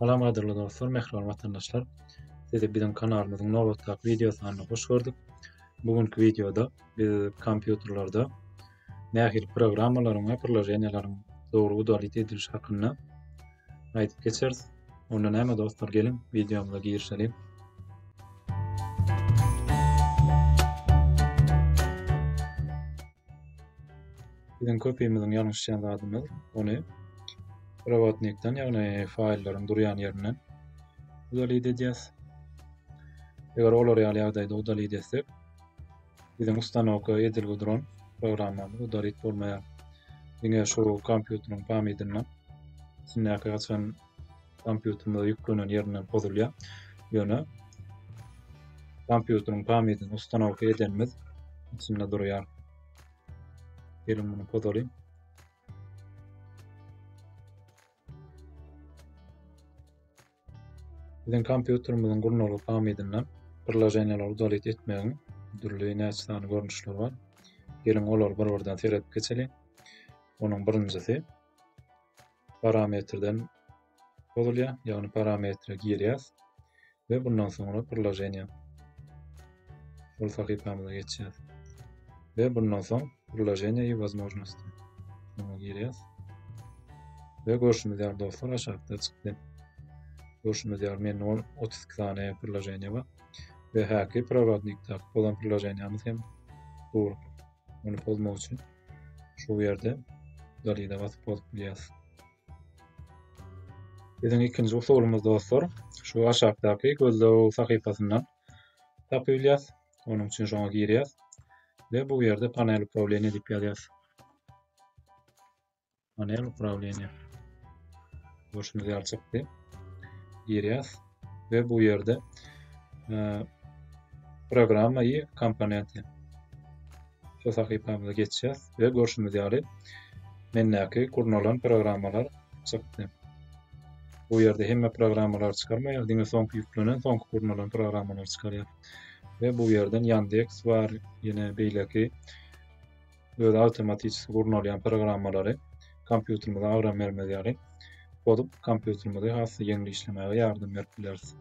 Salam gadyrly dostlar, mähriban watandaşlar. Sizi biziň kanalymyzyň nobatdaky wideosyna hoş gördük. Bu günki wideoda biz kompýuterlerde nähili programmalaryň we priloženiýalaryň dogry udalit edilişi hakynda aýdyp geçeris. Onda näme dostlar geliň wideomyza girişeliň. Biziň köpimiziň ýalňyşýan zadymyz ony robotnikden ýagny faýllaryň durýan ýerinden udalit edýäs. Eger olar ýaly ýagdaýda udalit etsek, Biziň ustanowka edilgi duran programmamyz udarit bolmaýar. Diňe şu kompýuteriň pamydyna içindäki haçan kompýuterimize ýüklenen ýerinden pozulýar. Ýöne kompýuteriň pamydyny ustanowka edenimiz içinde durýar. Geliň muny pozalyň. Biziň kompýuterimiziň gurnalyk hamydyna priloženiýalary dolit etmegiň dürli näçe sany görnüşleri bar. Geliň olary bir-birden seredip geçeliň. Onuň birinjisi parametrden bozulýar, ýagny parametre girýäs we bundan soňra priloženiýa. Ol sahypamyza geçýäs. Ve bundan soň Priloženiýa i Wozmoznosti muňa girýäs. Ve görşümiz ýaly dostlar aşakda çykdy. Görşümiz ýaly mende on otuz iki sany priloženiýa bar. Ve häki prorodnikdaky pozan priloženiýamyz hem dur. Ony pozmak üçin şu ýerde dalida basyp bozup bilýäs. Biziň ikinji usulymyz dostlar, şu aşakdaky gözlew sahypasyndan tapylýas. Onuň üçin şoňa girýäs we bu ýerde panel upravleniýa diýip ýazýas. Panel upravleniýa. Görşüňiz ýaly çykdy. Girýäs we bu ýerde e, programma i komponenti. şu sahypamyza geçýäs we görşümiz ýaly mendäki gurnalan programmalar çykdy. Bu ýerde hemme programmalar çykarmaýar, diňe soňky ýüklenen, soňky gurnalan programmalar çykarýar. Ve bu yerden Yandex var. Yine beyleki böyle avtomatik gurnalayan programmaları kompýuterimize agram bermez ýaly bozup kompýuterimizi has ýeňli işlemäge ýardam berip bileris.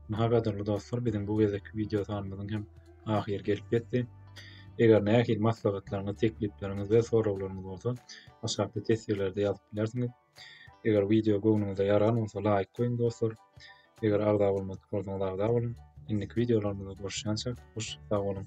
Maha gadyrly dostlar, biziň bu gezekki wideo sanymyzyň hem ahyry gelip ýetdi. Eger nähili maslahatlaryňyz, teklipleriňiz we soraglaryňyz bolsa, aşakda teswirlerde ýazyp bilersiňiz. Eger wideo göwnüňize ýaran bolsa, laýk goýuň dostlar. Eger agza bolmadyk bolsaňyz, agza boluň. Indiki wideolarymyzda görüşýänçä, hoş sag boluň.